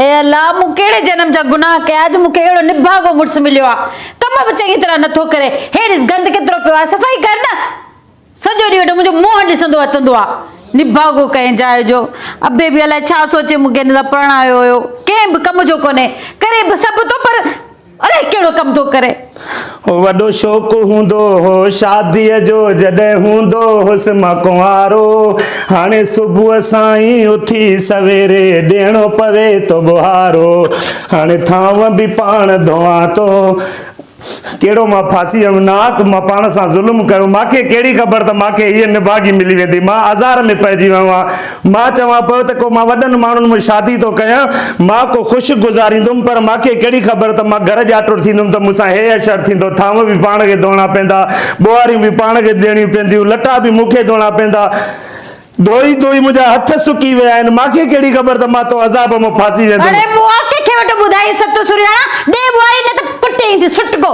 اي الله! مون ڪهڙي جنم جا گناهه ڪيا جو مون کي اهڙو نڀاڳو مڙس مليو آ. ڪم به چڱي طرح نه ٿو ڪري. هي ڏس گند ڪيترو پيو آهي، صفائي ڪر نه. سڄو ڏينهن ويٺو منهنجو منهن ڏسندو وتندو آ. نڀاڳو ڪنهن جاء جو. ابي به الائي ڇا سوچي مون کي هن سان پرڻايو هيو. ڪنهن به ڪم جو ڪونهي. ڪري به سڀ ٿو پر. اڙي ڪهڙو ڪم ٿو ڪرين. هو وڏو شوق هوندو هو شاديء جو جڏهن هوندو هوس مان ڪنوارو. هاڻي صبح سان ئي اٿي سويري ڏيڻو پوي ٿو ٻوهارو. هاڻي ٿانو به پاڻ ڌوئان ٿو. ڪهڙو مان ڦاسي ويم ناحق مان پاڻ سان ظلم ڪيو. مان کي ڪهڙي خبر ته مان کي هيء نڀاڳي ملي ويندي. مان آزار ۾ پئجي ويو آهيان. مان چوان پيو ته ڪو مان وڏن ماڻهن ۾ شادي ٿو ڪيان، مان ڪو خشڪ گذاريندم، پر مان کي ڪهڙي خبر ته مان گهر ڄاٽوڙ ٿيندم ته مون سان هي حشر ٿيندو، ٿانو به پاڻ کي ڌوئڻا پيندا، ٻوهاريون به پاڻ کي ڏيڻيون پينديون، لٽا به مون کي ڌوئڻا پيندا، ڌوئي ڌوئي منهنجا هٿ سڪي ويا آهن، مان کي ڪهڙي خبر ته مان تو عذاب ۾ ڦاسي ويندم. اڙي ٻوهار ڪنهن کي وٽ ٻڌائي ستو سرياڻا، ڏي ٻوهاري نه ته پٽي ايندينس ڦٽڪو.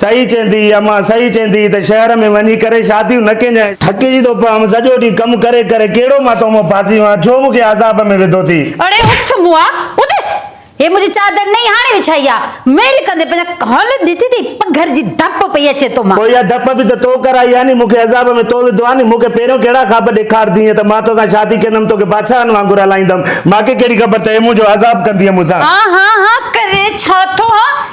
صحيح چيندي امان صحيح چيندي ته شهر ۾ وڃي ڪري شاديون نه ڪينجان. ٿڪجي ٿو پويم سڄو ڏينهن ڪم ڪري ڪري ڪهڙو مان تو مان ڦاسي هئان ڇو مون کي عذاب ۾ وڌو ٿي. اڙي اٿ موئا اٿ هي منهنجي چادر نئين هاڻي وڇائي آ ميل ڪندي پنهنجا ڪانه ڏٺي ٿي پگهر جي ڌپ پئي اچي تو مان. پوء اها ڌپ به ته تو ڪرائي آ ني مون کي عذاب ۾ تو وڌو آ ني مون کي پهريون ڪهڙا خواب ڏيکاردينء ته مان توسان شادي ڪندم توکي بادشاهن وانگر هلائيندم مان کي ڪهڙي خبر ته هي منهنجو عذاب ڪندينء مون سان. ها ها ها ڪري ڇا ٿو ها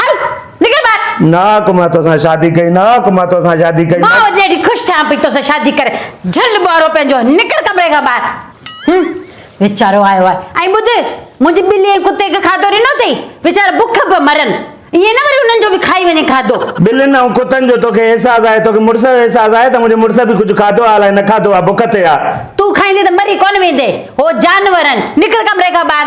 هل نڪر ٻاهر. نه آق مان توسان شادي ڪئي. نه آق مان توسان شادي ڪئي. مان اڄ اهڙي خوش ٿيان پئي توسان شادي ڪري. جهل ٻوهارو پنهنجو نڪر ڪمري کان ٻاهر. هن ويچارو آيو آهي ۽ ٻڌ منهنجي ٻلي ۽ ڪتي کي کاڌو ڏنو اٿئي ويچارا بک به مرن ائين نه وري انهن جو به کائي وڃي کاڌو. ٻلين ۽ ڪتن جو توکي احساس آهي توکي مڙس جو احساس آهي ته منهنجي مڙس به ڪجهه کاڌو آهي الائي نه کاڌو آهي بک تي آهي. تون کائيندين ته مري ڪونه ويندين هو جانور آهن نڪر ڪمري کان ٻاهر.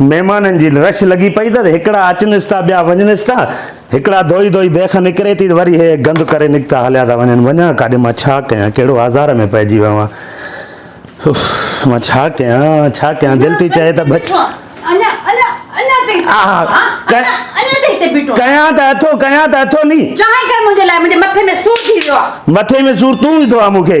مهمانن جي رش لڳي پئي ته هڪڙا اچنس ٿا ٻيا وڃنس ٿا هڪڙا ڌوئي ڌوئي بيک نڪري ٿي وري هي گند ڪري نڪتا هليا ٿا وڃن وڃان ڪاڏي مان ڇا ڪيان ڪهڙو آزار ۾ پئجي ويو آهيان اف مان ڇا ڪيان ڇا ڪيان دل ٿي چاهي ته بچ ڪيان ته اٿو ڪيان ته اٿو ني مٿي ۾ سور ٿي ويو آهي مٿي ۾ سور تون وڌو آهي مون کي